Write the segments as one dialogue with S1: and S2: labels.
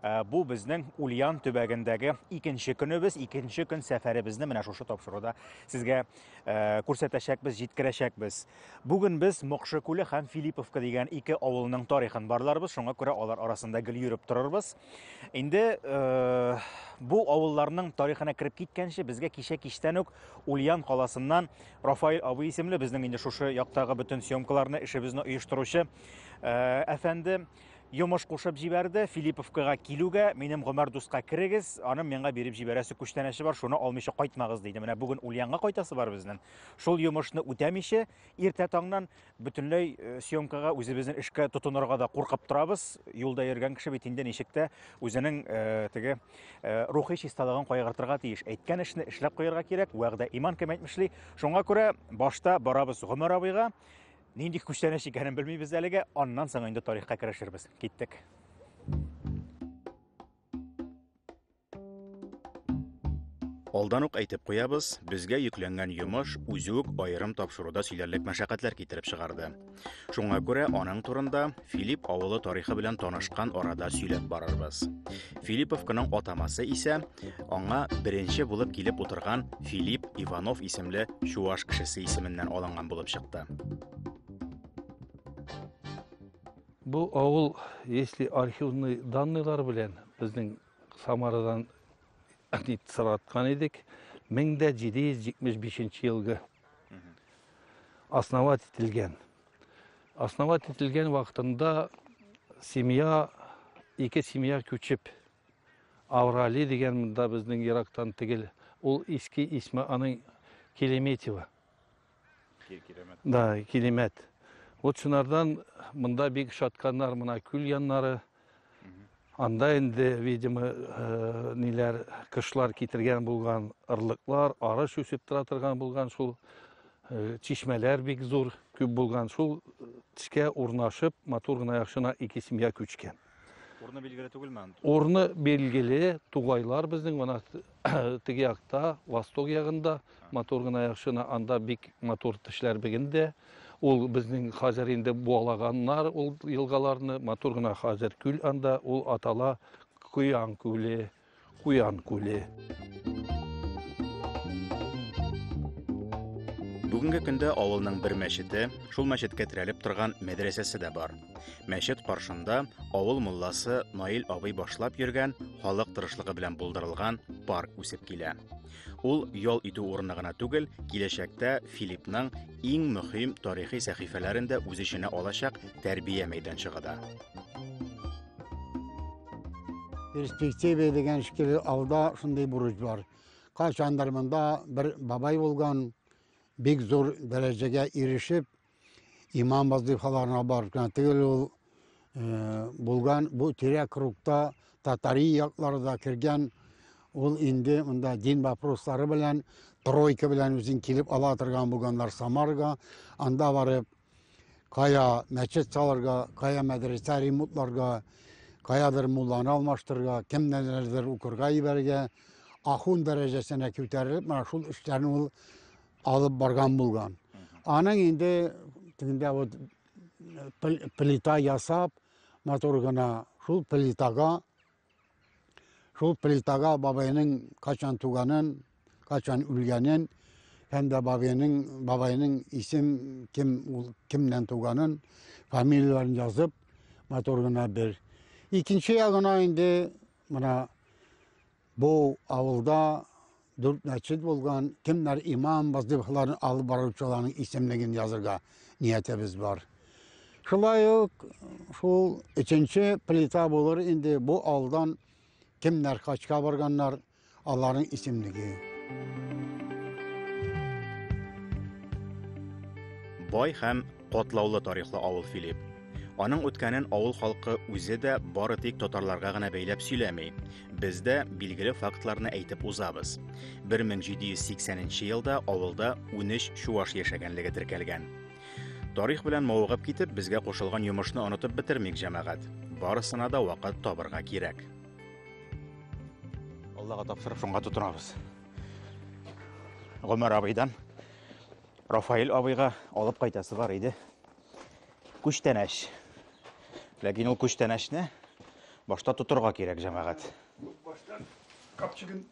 S1: Ә, бу безнең Ульян төбәгендәге икенче көнебез, икенче көн сәфәребезне менә шушы тапшыруда сезгә ә, күрсәтәчәкбез, җиткерәчәкбез. Бүген без Мокшы күле һәм Филипповка дигән ике авылның тарихын барларбыз, шуңа күрә алар арасында гел йөреп торырбыз. Инде ә, бу авылларның тарихына кереп киткәнче, безгә кичә кичтән үк Ульян каласыннан Рафаэль абый исемле безнең инде шушы яктагы бөтен съемкаларны, эшебезне оештыручы ә, әфәнде Йомыш кушып җибәрде, Филипповкага килүгә, минем Гомәр дуска керегез, аның миңа биреп җибәрәсе күчтәнәче бар, шуны алмыйча кайтмагыз, диде. Менә бүген Ульянга кайтасы бар безнең. Шул йомышны үтәмичә, иртә таңнан бөтенләй э, съемкага үзебезнең эшкә тотынырга да куркып торабыз. Юлда йөргән кеше бит инде ничек тә үзенең э, теге э, рухи чисталыгын кайгыртырга тиеш. Әйткән эшне эшләп куярга кирәк, вәгъдә иман кем әйтмешли. Шуңа күрә башта барабыз Гомәр абыйга, Нинди күчтәнәч икәнен белмибез әлегә, аннан соң инде тарихка керешербез. Киттек. Алдан ук әйтеп куябыз, безгә йөкләнгән йомыш үзе үк аерым тапшыруда сөйләрлек мәшәкатьләр китереп чыгарды. Шуңа күрә аның турында Филипп авылы тарихы белән танышкан арада сөйләп барырбыз. Филипповканың атамасы исә аңа беренче булып килеп утырган Филипп Иванов исемле чуаш кешесе исеменнән алынган булып чыкты.
S2: Бу авыл, если архивный данныйлар белән безнең Самарадан сораткан идек, 1775 елгы основать ителгән. Основать ителгән вакытында семья, ике семья күчеп, Аврали дигән монда безнең ерактан тегел, ул иске исме аның Келеметьева. Да, Келемет. Вот шунардан монда бик шатканнар мына күл яннары, Анда инде, видимо, э, ниләр кышлар китергән булган ырлыклар, арыш үсеп тора торган булган шул э, чишмәләр бик зур, күп булган шул тешкә урнашып, матур гына яхшына ике семья күчкән. Урны билгеле
S1: түгелме аны? Урны билгеле,
S2: тугайлар безнең мына теге якта, восток ягында. Матур гына яхшына анда бик матур тешләр бегенде. Ул безнең хәзер инде буалаганнар ул елгаларны. Матур гына хәзер күл анда ул атала Куян күле, Куян күле.
S1: Бүгенге көндә авылның бер мәчете, шул мәчеткә терәлеп торган мәдрәсәсе дә бар. Мәчет каршында авыл мулласы Наил абый башлап йөргән халык тырышлыгы белән булдырылган парк үсеп килә. Ул ял итү урыны гына түгел, киләчәктә Филиппның иң мөһим тарихи сәхифәләрен дә үз эченә алачак тәрбия мәйданчыгы да.
S3: Перспектива дигән шикелле алда шундый бурыч бар. Кайчандыр монда бер бабай булган, бик зур дәрәҗәгә ирешеп, Имам вазифаларына барып кына түгел ул э, булган бу тирә кругта татари яклары да кергән ул инде монда дин вопрослары белән тройка белән үзен килеп ала торган булганнар самарга анда барып кая мәчет салырга кая мәдрәсә ремонтларга каядыр мулланы алмаштырырга кемнәрдер укырга ибәрергә ахун дәрәҗәсенә күтәрелеп менә шул эшләрне ул алып барган булган. Аның инде тегендә вот плита ясап, матур гына шул плитага шул плитага бабайның качан туганын, качан үлгәнен һәм дә бабайның бабайның исем кем ул кемнән туганын, фамилияләрен язып, матур гына бер. Икенче ягына инде менә Бу авылда дүрт мәчет булган, кемнәр имам, вазифаларын алып баручыларның исемлеген язырга ниятебез бар. Шулай ук шул өченче плита булыр инде бу алдан кемнәр хачка барганнар, аларның исемлеге.
S1: Бай һәм Катлаулы тарихлы авыл Филипп. Аның үткәнен авыл халкы үзе дә бары тик татарларга гына бәйләп сөйләми. Без дә билгеле фактларны әйтеп узабыз. 1780 елда авылда 13 чуаш яшәгәнлеге теркәлгән. Тарих белән мавыгып китеп, безгә кушылган йомышны онытып бетермик, җәмәгать. Барысына да вакыт табырга кирәк. Аллага тапшырып шуңа тотынабыз. Гомәр абыйдан Рафаэль абыйга алып кайтасы бар иде. Күчтәнәч. Ләкин ул күчтәнәчне башта тотырга кирәк, җәмәгать. Баштан
S2: капчыгын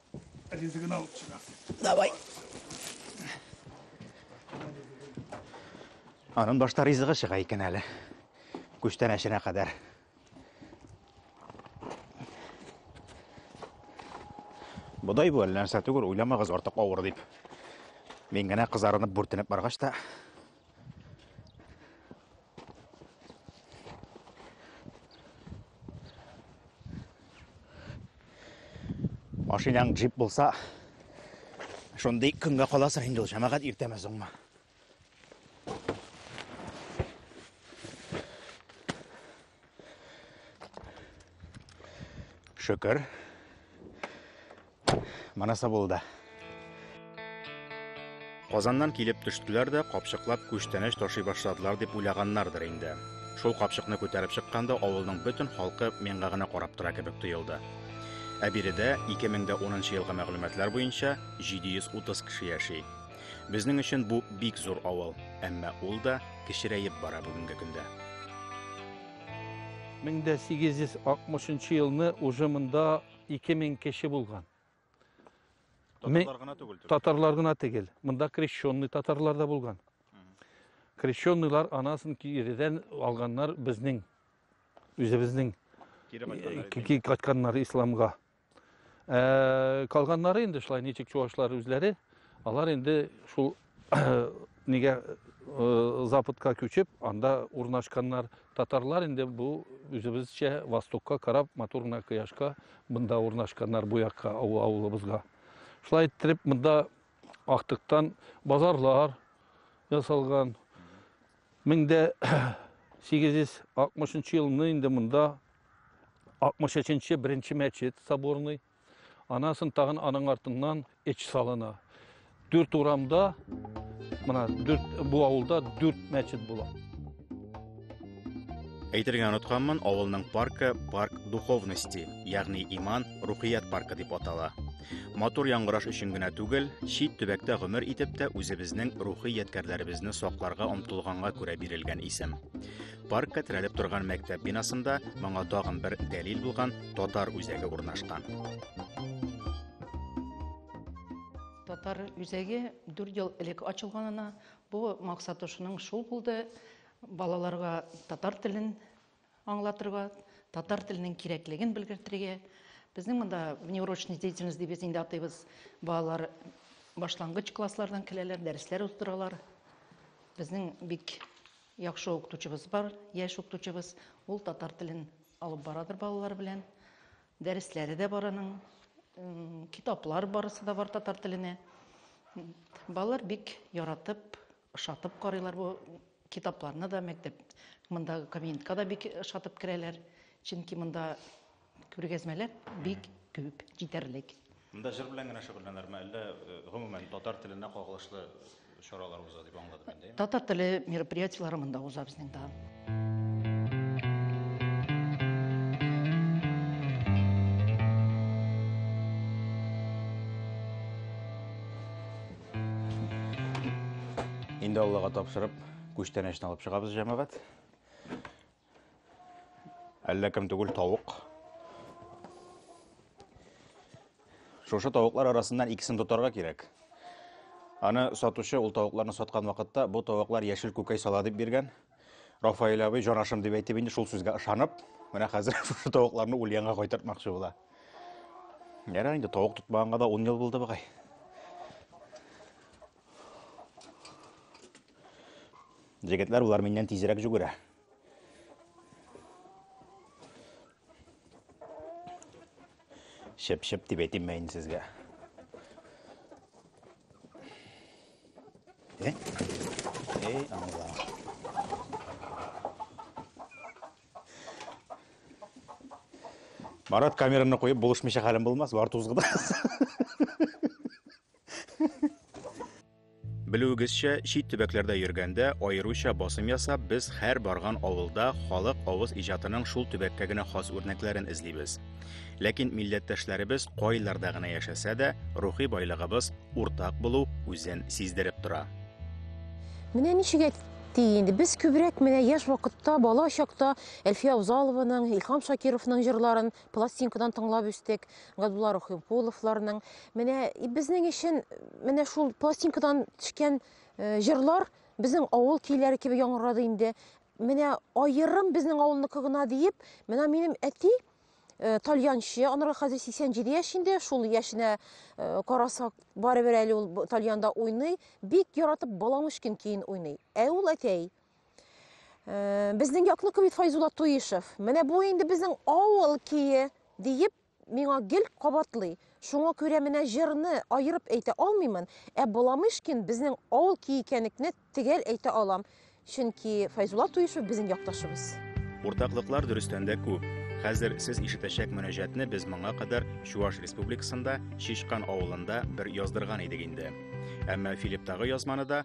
S2: ризыгын алып чыгасың. Давай.
S1: Анын башта ризыгы чыга икән әле. Күчтәнәченә кадәр. Бодай бу әллә нәрсә түгел, уйламагыз артык авыр дип. Мин генә кызарынып бүртенеп баргач та Машинаң джип булса, шундый көнгә каласың инде ул җәмәгать иртәме соңмы? Шөкер. Манаса булды. Казаннан килеп төштеләр дә капчыклап күчтәнәч ташый башладылар дип уйлаганнардыр инде. Шул капчыкны күтәреп чыкканда авылның бөтен халкы миңа гына карап тора кебек тоелды. Ә биредә 2010 елгы мәгълүматлар буенча 730 кеше яши. Безнең өчен бу бик зур авыл, әмма ул да кечерәеп бара бүгенге көндә. 1860
S2: елны уже монда 2000 кеше булган. Татарлар
S1: гына түгел. Татарлар гына түгел.
S2: Монда крещенный татарлар да булган. Крещенныйлар анасын киредән алганнар безнең үзебезнең кире кайтканнар исламга. Ә, калганнары инде шулай ничек чувашлар үзләре, алар инде шул нигә э, западка күчеп, анда урнашканнар. Татарлар инде бу үзебезчә востокка карап, матур гына кояшка монда урнашканнар бу якка авылыбызга. Шулай иттереп монда актыктан базарлар ясалган. 1860 елны инде монда 63-нче беренче мәчет соборный. Анасын тагын аның артыннан эч салына. Дүрт урамда, мына дүрт бу авылда дүрт мәчет була.
S1: Әйтергә онытканмын, авылның паркы парк духовности, ягъни иман, рухият паркы дип атала. Матур яңгыраш өчен генә түгел, чит төбәктә гомер итеп тә үзебезнең рухи ядкәрләребезне сакларга омтылганга күрә бирелгән исем. Паркка терәлеп торган мәктәп бинасында моңа тагын бер дәлил булган татар үзәге урнашкан.
S4: Татар үзәге 4 ел элек ачылганына бу максаты шуның шул булды. Балаларга татар телен аңлатырга, татар теленең кирәклеген белгертергә. Безнең монда внеурочная деятельность дип без инде атыйбыз. Балалар башлангыч класслардан киләләр, дәресләр уздыралар. Безнең бик Яхшы укытучыбыз бар, яшь укытучыбыз. Ул татар телен алып барадыр балалар белән. Дәресләре дә бар аның. Китаплар барысы да бар татар теленә. Балалар бик яратып, ошатып карыйлар бу китапларны да мәктәп. Мондагы кабинетка да бик ошатып керәләр. Чөнки монда Күргәзмәләр бик күп, җитәрлек. Монда җыр белән генә
S1: шөгыльләнерме, әллә гомумән татар теленә кагылышлы чаралар уза дип аңладым инде. Татар теле
S4: мероприятиеләре монда уза безнең да.
S1: Инде Аллага тапшырып, күчтәнәчне алып чыгабыз, җәмәгать. Әллә кем түгел тавык. Шушы тавыклар арасыннан икесен тотарга кирәк. Аны сатучы ул тавыкларны саткан вакытта бу тавыклар яшел күкәй сала дип биргән. Рафаэль абый җанашым дип әйтеп инде шул сүзгә ышанып, менә хәзер шушы тавыкларны Ульянга кайтартмакчы була. Ярар инде тавык тотмаганга да 10 ел булды бугай. Җегетләр болар миннән тизрәк жүгерә. Шеп-шеп дип әйтим мә инде сезгә. Э? Эй, аңла. Марат камераны куеп булышмыйча хәлем булмас, бар тузгыдас. Белүегезчә, чит төбәкләрдә йөргәндә, аеруча басым ясап, без һәр барган авылда халык авыз иҗатының шул төбәккә генә хас үрнәкләрен эзлибез. Ләкин милләттәшләребез кайларда гына яшәсә дә, рухи байлыгыбыз уртак булу үзен сиздереп тора.
S5: Менә ничек әйтте инде, без күбрәк менә яшь вакытта, бала чакта Әлфия Авзалованың, Илһам Шакировның җырларын пластинкадан тыңлап үстек Габдулла Рухимпуловларның. Менә безнең өчен менә шул пластинкадан төшкән э, җырлар безнең авыл көйләре кебек яңгырады инде. Менә аерым безнең авылныкы гына диеп, менә минем әти э, тальянчы, анырга хәзер 87 яшь инде, шул яшенә э, карасак, барыбер әле ул тальянда уйный, бик яратып Баламышкин көен уйный. Ә ул әтәй Э, безнең якныкы бит Файзулла Туишев. Менә бу инде безнең авыл кие диеп миңа гел кабатлый. Шуңа күрә менә җырны аерып әйтә алмыймын, ә Боламышкин безнең авыл кие икәнлекне тегәл әйтә алам. Чөнки Файзулла Туишев безнең якташыбыз. Уртаклыклар
S1: дөрестән дә күп. Хәзер сез ишетәчәк мөнәҗәтне без моңа кадәр Чуаш Республикасында Шишкан авылында бер яздырган идек инде. Әмма Филипптагы язманы да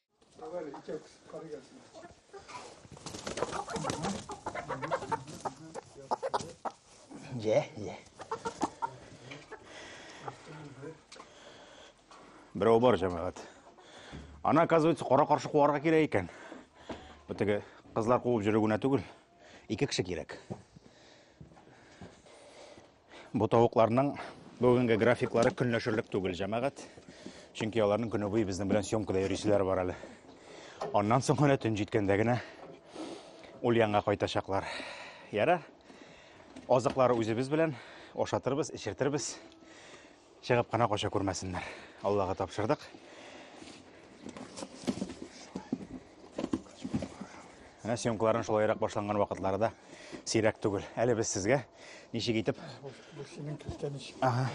S1: Ye, ye. Берәү бар җәмәгать. Ана, оказывается, кара каршы куарга кирәк икән. Бу теге кызлар куып йөрү генә түгел, ике кеше кирәк. Бу тавыкларның бүгенге графиклары көнләшерлек түгел, җәмәгать. Чөнки аларның көне буе безнең белән съемкада йөрүчеләр бар әле. Аннан соң гына төн җиткәндә генә ул янга кайтачаклар. Яра, азыклары үзебез белән ашатырбыз, эчертербез. Чыгып кына кача күрмәсеннәр. Аллага тапшырдык. Менә съемкаларын шулайрак башланган вакытлары да сирәк түгел. Әле без сезгә ничек итеп Ага.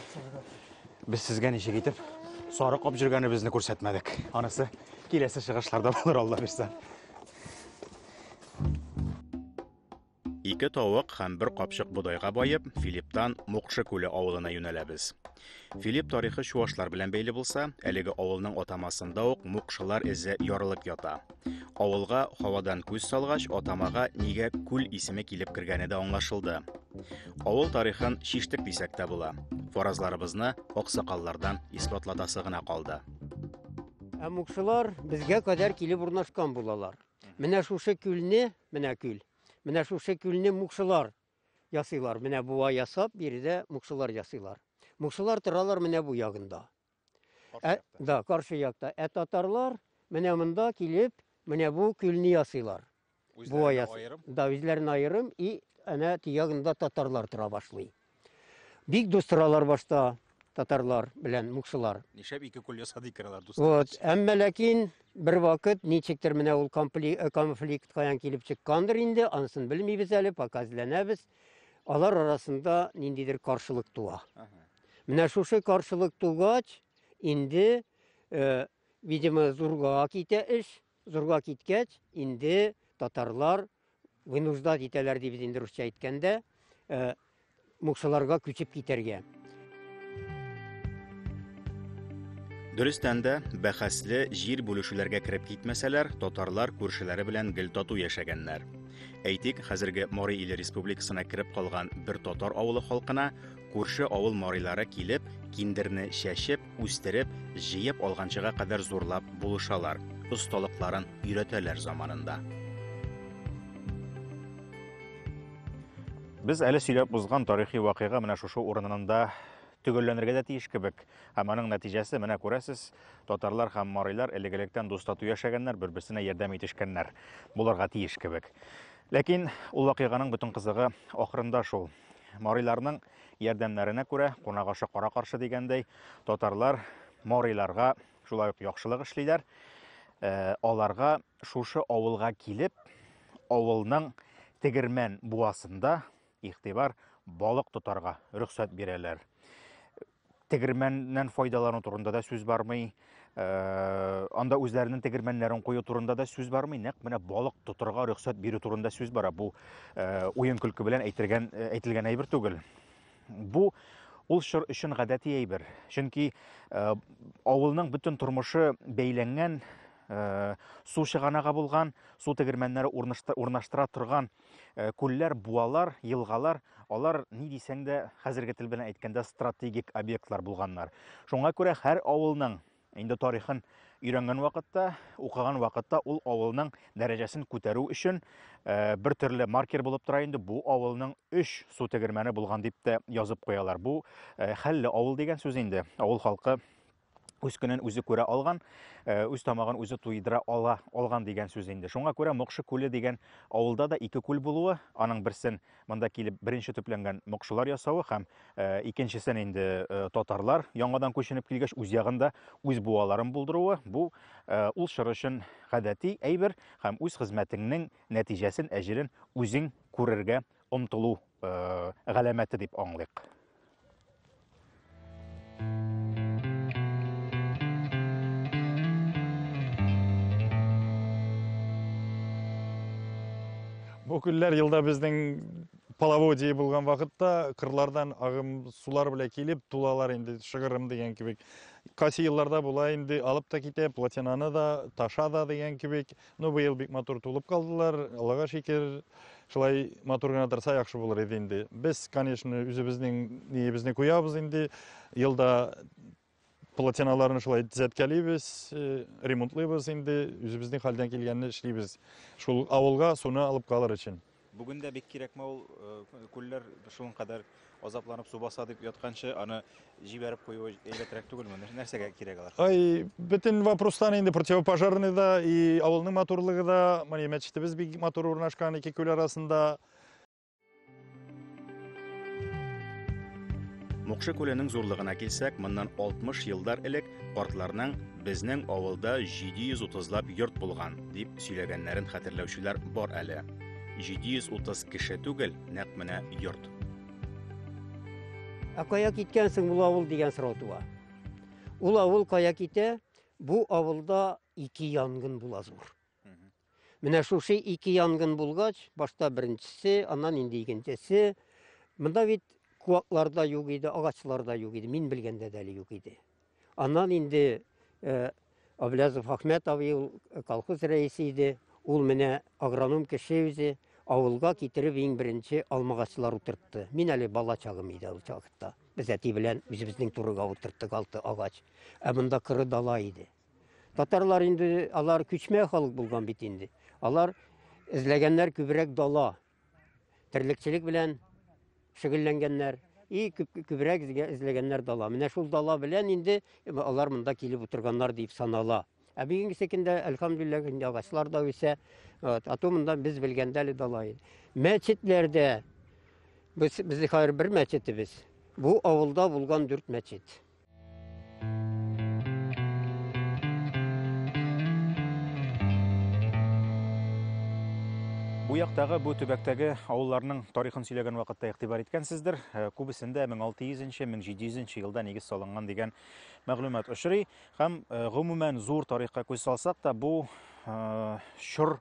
S1: Без сезгә ничек итеп сарык кап безне күрсәтмәдек. Анысы киләсе чыгышларда булыр Алла бирсә. Ике тавык һәм бер капчык бодайга баеп, Филипптан Мукшы күле авылына юнәләбез. Филипп тарихы чуашлар белән бәйле булса, әлеге авылның атамасында ук мукшылар эзе ярылып ята. Авылга һавадан күз салгач, атамага нигә күл исеме килеп кергәне дә аңлашылды. Авыл тарихын шиштек дисәк тә була. Фаразларыбызны аксакаллардан исбатлатасы гына калды. Ә
S6: мукшылар безгә кадәр килеп урнашкан булалар. Менә шушы күлне, менә күл. Менә шушы күлне мукшылар ясыйлар. Менә буа ясап, биредә мукшылар ясыйлар. Мукшылар торалар менә бу ягында. Ә, да, каршы якта. Ә татарлар менә монда килеп, менә бу күлне ясыйлар. Буа ясый. Да, үзләрен аерым и әнә тиягында татарлар тора башлый. Бик дус торалар башта татарлар белән мукшылар. Нишләп ике кул ясады
S1: икән алар дус? Вот, әмма ләкин
S6: бер вакыт ничектер менә ул э, конфликт каян килеп чыккандыр инде, анысын белмибез әле, пока эзләнәбез. Алар арасында ниндидер каршылык туа. Менә шушы каршылык тугач, инде, э, видимо, зурга китә эш. Зурга киткәч, инде татарлар вынуждать итәләр ди без инде русча әйткәндә, э, мукшыларга күчеп китәргә.
S1: Дөрестән дә, бәхәсле җир бүлешүләргә кереп китмәсәләр, татарлар күршеләре белән гел тату яшәгәннәр. Әйтик, хәзерге Морей иле республикасына кереп калган бер татар авылы халкына күрше авыл морилары килеп, киндерне чәчеп, Үстереп, җыеп алганчыга кадәр зурлап булышалар, осталыкларын өйрәтәләр заманында. Без әле сөйләп узган тарихи вакыйга менә шушы урынында төгәлләнергә дә тиеш кебек. Һәм аның нәтиҗәсе менә күрәсез, татарлар һәм марилар элек-электән дус тату яшәгәннәр, бер-берсенә ярдәм итешкәннәр. Булырга тиеш кебек. Ләкин ул вакыйганың бөтен кызыгы ахырында шул. Мариларның Ярдәмнәренә күрә, кунак ашы кара каршы дигәндәй, татарлар мориларга шулай ук яхшылык эшлиләр. Э, аларга шушы авылга килеп, авылның тегермән буасында игътибар балык тотарга рөхсәт бирәләр. тегермәннән файдалану турында да сүз бармый э, анда үзләренең тегермәннәрен кую турында да сүз бармый нәкъ менә балык тотырга рөхсәт бирү турында сүз бара бу э, уен көлке белән әйтергән э, әйтелгән әйбер түгел бу ул чор өчен гадәти әйбер чөнки авылның бөтен тормышы бәйләнгән су чыганагы булган су тегермәннәре урнаштыра торган Э, күлләр, буалар, елгалар, алар ни дисәң дә, хәзерге тел белән әйткәндә, стратегик объектлар булганнар. Шуңа күрә һәр авылның инде тарихын өйрәнгән вакытта, укыган вакытта ул авылның дәрәҗәсен күтәрү өчен э, бер төрле маркер булып тора инде бу авылның өч су тегермәне булган дип тә язып куялар. Бу э, хәлле авыл дигән сүз инде. Авыл халкы үз көнен үзе күрә алган, э, үз тамагын үзе туйдыра ала алган дигән сүз инде. Шуңа күрә Мокшы күле дигән авылда да ике күл булуы, аның берсен монда килеп беренче төпләнгән мокшылар ясавы һәм э, икенчесен инде э, татарлар яңадан күченеп килгәч үз ягында үз буаларын булдыруы бу ул чор өчен гадәти әйбер һәм үз хезмәтеңнең нәтиҗәсен, әҗерен үзең күрергә омтылу галәмәте дип аңлыйк.
S7: Бу күлләр елда безнең половодье булган вакытта кырлардан агым сулар белән килеп тулалар инде шыгырым дигән кебек кайсы елларда була инде алып та китә плотинаны да таша да дигән кебек Ну, быел бик матур тулып калдылар, Аллага шикер. Шулай матур гына торса яхшы булыр иде инде. Без, конечно, үзебезнең ниебезне куябыз инде. Елда платиналарны шулай төзәткәлибез, э, ремонтлыйбыз инде, үзебезнең хәлдән килгәнне эшлибез. Шул авылга суны алып калыр өчен. Бүген дә бик кирәкме
S1: ул э, күлләр шуның кадәр азапланып су баса дип ятканчы аны җибәреп куюы әйбәтрәк түгелме? Нәрсәгә кирәк алар? Ай, бөтен
S7: вопростан инде противопожарный да и авылның матурлыгы да, менә мәчетебез бик матур урнашкан ике күл арасында.
S1: Мукшы күленең зурлыгына килсәк, моннан 60 еллар элек картларның безнең авылда 730лап йорт булган дип сөйләгәннәрен хәтерләүчеләр бар әле. 730 кеше түгел, нәкъ менә йорт.
S6: Ә кая киткәнсең бу авыл дигән сорау туа. Ул авыл кая китә? Бу авылда ике янгын була зур. Менә шушы ике янгын булгач, башта беренчесе, аннан инде икенчесе. Монда бит куаклар да юк иде, агачлар да юк иде, мин белгәндә дә әле юк иде. Аннан инде э, Аблязов Ахмет абый ул э, колхоз рәисе иде. Ул менә агроном кеше үзе авылга китереп иң беренче алмагачлар утыртты. Мин әле бала чагым иде ул чакта. Без әти белән үзебезнең турыга утырттык алты агач. Ә монда кыры дала иде. Татарлар инде алар күчмә халык булган бит инде. Алар эзләгәннәр күбрәк дала. Терлекчелек белән шөгыльләнгәннәр. И күбрәк эзләгәннәр дала. Менә шул дала белән инде алар монда килеп утырганнар дип санала. Ә бүгенге секендә әлхәмдүлилләһ инде агачлар да үсә. Вот, ату монда без белгәндә әле дала иде. Мәчетләрдә без безнең хәзер бер мәчетебез. Бу авылда булган дүрт мәчет.
S1: Бу яктагы, бу төбәктәге авылларның тарихын сөйләгән вакытта игътибар иткәнсездер. Э, күбесендә 1600-1700 елда нигез салынган дигән мәгълүмат очрый. Һәм э, гомумән зур тарихка күз салсак та, бу э, чор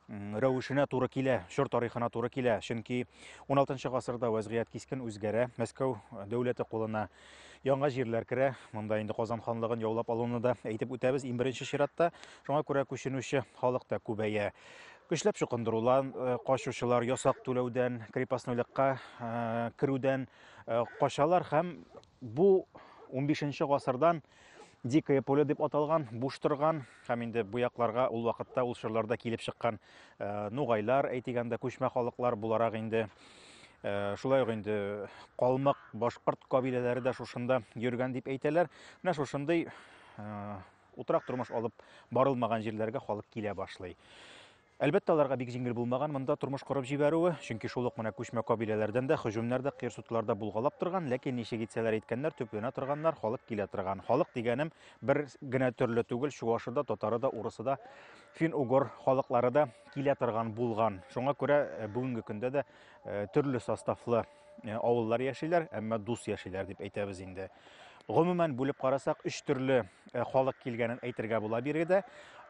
S1: рәвешенә туры килә, чор тарихына туры килә. Чөнки 16 гасырда вәзгыять кискен үзгәрә. Мәскәү дәүләте кулына яңа җирләр керә. Монда инде Казан ханлыгын яулап алуны да әйтеп үтәбез иң беренче чиратта. Шуңа күрә күченүче халык та күбәя. Көчләп чукындырулар, э, качучылар ясак түләүдән, крепостнойлыкка э, керүдән э, качалар һәм бу 15 гасырдан Дикое поле дип аталган, буш торган һәм инде бу якларга ул вакытта ул чорларда килеп чыккан э, нугайлар, әйтегәндә күчмә халыклар буларак инде э, шулай ук инде калмык, башкорт кабиләләре дә шушында йөргән дип әйтәләр. Менә шушындый э, утрак тормыш алып барылмаган җирләргә халык килә башлый. Әлбәттә, аларга бик җиңел булмаган монда тормыш корып җибәрүе, чөнки шул ук менә күчмә кабиләләрдән дә һөҗүмнәр дә, кыерсытулар да булгалап торган, ләкин ничек итсәләр иткәннәр, төпләнә торганнар, халык килә торган. Халык дигәнем бер генә төрле түгел, чуашы да, татары да, урысы да, фин-угор халыклары да килә торган булган. Шуңа күрә бүгенге көндә дә төрле составлы Э, авыллар яшиләр, әмма дус яшиләр дип әйтәбез инде. Гомумән бүлеп карасак, өч төрле э, халык килгәнен әйтергә була биргедә.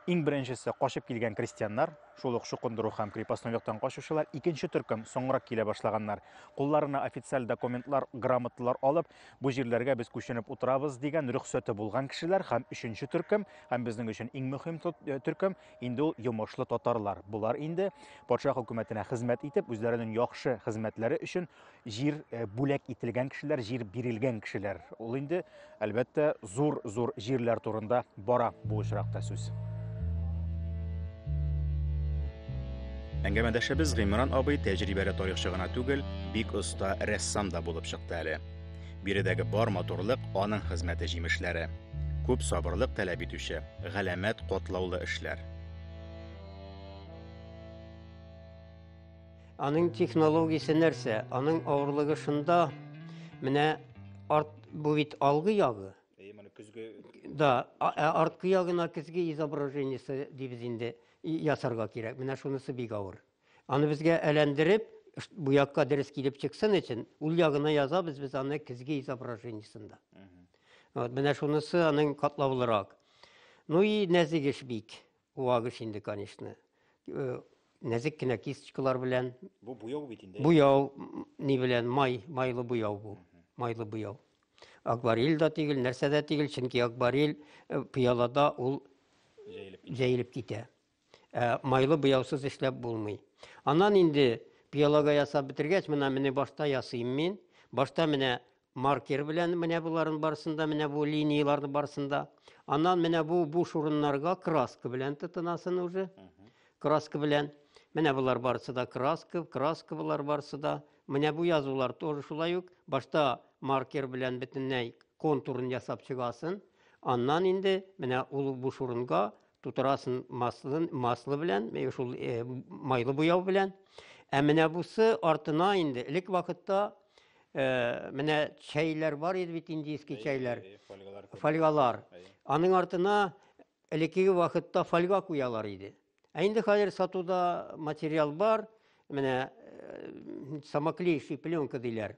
S1: Иң беренчесе качып килгән крестьяннар, шул ук шукындыру һәм крепостнойлыктан качучылар. Икенче төркем соңрак килә башлаганнар. Кулларына официаль документлар, грамоталар алып, бу җирләргә без күченеп утырабыз дигән рөхсәте булган кешеләр һәм өченче төркем, һәм безнең өчен иң мөһим э, төркем, Инде ул йомышлы татарлар. Болар инде патша хөкүмәтенә хезмәт итеп, үзләренең яхшы хезмәтләре өчен җир э, бүләк ителгән кешеләр, җир бирелгән кешеләр. Ул инде, әлбәттә, зур-зур җирләр турында бара бу очракта сүз. Әңгәмәдәшебез Гыймран абый тәҗрибәле тарихчы гына түгел, бик оста рәссам да булып чыкты әле. Биредәге бар матурлык аның хезмәте җимешләре. Күп сабырлык таләп итүче, галәмәт котлаулы эшләр.
S6: Аның технологиясе нәрсә? Аның авырлыгы шунда, менә арт бу бит алгы ягы. Да, ә арткы ягына көзге изображениесе дибез инде ясарга кирәк. Менә шунысы бик авыр. Аны безгә әләндереп, бу якка дөрес килеп чыксын өчен, ул ягына язабыз без аны көзге изображениесында. Вот, менә шунысы аның катлаулырак. Ну и нәзик эш бик. Вак эш инде, конечно. Э, нәзик кенә кисточкалар белән. Бу буяу бит инде.
S1: Буяу ни
S6: белән? Май, майлы буяу бу. Майлы буяу. Акварель да тигел, нәрсә дә тигел, чөнки акварель э, пыялада ул җәелеп китә. Ә майлы буяусыз эшләп булмый. Аннан инде пиалога ясап бетергәч, менә менә башта ясыйм мин. Башта менә маркер белән менә боларын барсында, менә бу линияләрне барсында. Аннан менә бу бу шурыннарга краска белән тотынасын уже. Краска белән. Менә болар барысы да краска, краска болар барысы да. Менә бу язулар тоже шулай ук. Башта маркер белән бөтенләй контурын ясап чыгасын. Аннан инде менә ул бу шурынга тутырасын маслы, маслы белән, э, шул э, майлы буяу белән. Ә менә бусы артына инде элек вакытта э, менә чәйләр бар иде бит индийский чәйләр. Фольгалар. Фольгалар. Аның артына элекеге вакытта фольга куялар иде. Ә инде хәзер сатуда материал бар, менә э, самоклеющий пленка диләр.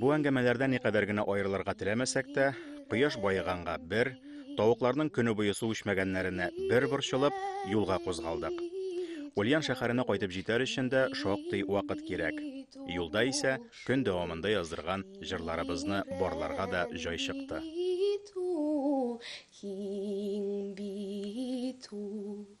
S1: Бу әңгәмәләрдә никадәр генә аерылырга теләмәсәк тә, кояш баеганга бер, тавыкларның көне буе су эчмәгәннәренә бер борчылып, юлга кузгалдык. Ульян шәһәренә кайтып җитәр өчен дә шактый вакыт кирәк. Юлда исә көн дәвамында яздырган җырларыбызны барларга да җай чыкты. Киң бит ул.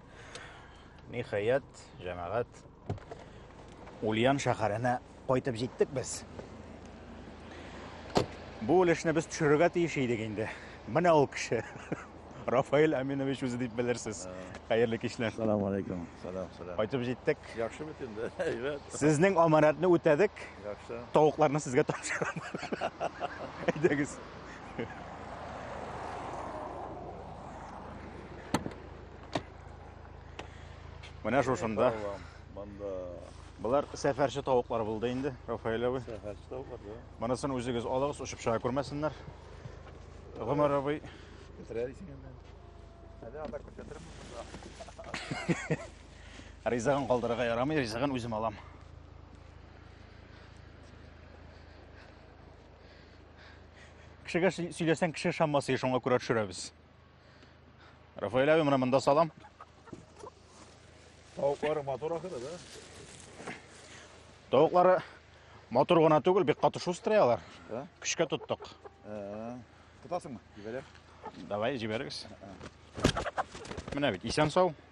S1: Ниһаять, җәмәгать, Ульян шәһәренә кайтып җиттек без. Бу өлешне без төшерергә тиеш идек инде. Менә ул кеше. Рафаэль Аминович үзе дип белерсез. Хәерле кичләр. Салам алейкум. Салам, салам.
S8: Кайтып җиттек.
S1: Яхшы бит инде.
S8: Әйбәт. Сезнең аманатны
S1: үтәдек. Яхшы. Тавыкларны
S8: сезгә
S1: тапшырам. Әйдәгез. Менә шушында. Монда Болар сәфәрче тавыклар булды инде, Рафаэль абый. Сәфәрче тавыклар, да.
S8: Монысын үзегез
S1: алыгыз, очып чыга күрмәсеннәр. Гомәр абый. Бетерәр исең
S8: инде. Әле анда күрсәтермен монда.
S1: Ризыгын калдырырга ярамый, ризыгын үзем алам. Кешегә сөйләсәң, кеше шаммасы, шуңа күрә төшерәбез. Рафаэль әби, менә монда салам.
S8: Тавыклары матур ахыры, да?
S1: Тавыклары матур гына түгел, бик каты шустрый алар. Да? Көчкә тоттык. Ә,
S8: Тотасыңмы? Җибәрәм. Давай,
S1: җибәрегез. Менә бит, исән сау.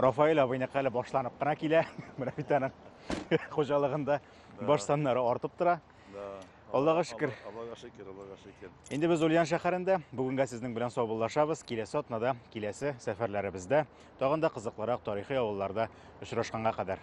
S1: Рафаэль абыйныкы әле башланып кына килә. Менә бит аның хуҗалыгында баш саннары артып тора. Аллага шөкер. Аллага шөкер, Аллага
S8: шөкер. Инде без Ульян шәһәрендә.
S1: Бүгенгә сезнең белән саубуллашабыз. Киләсе атнада, киләсе сәфәрләребездә тагын да кызыклырак тарихи авылларда очрашканга кадәр.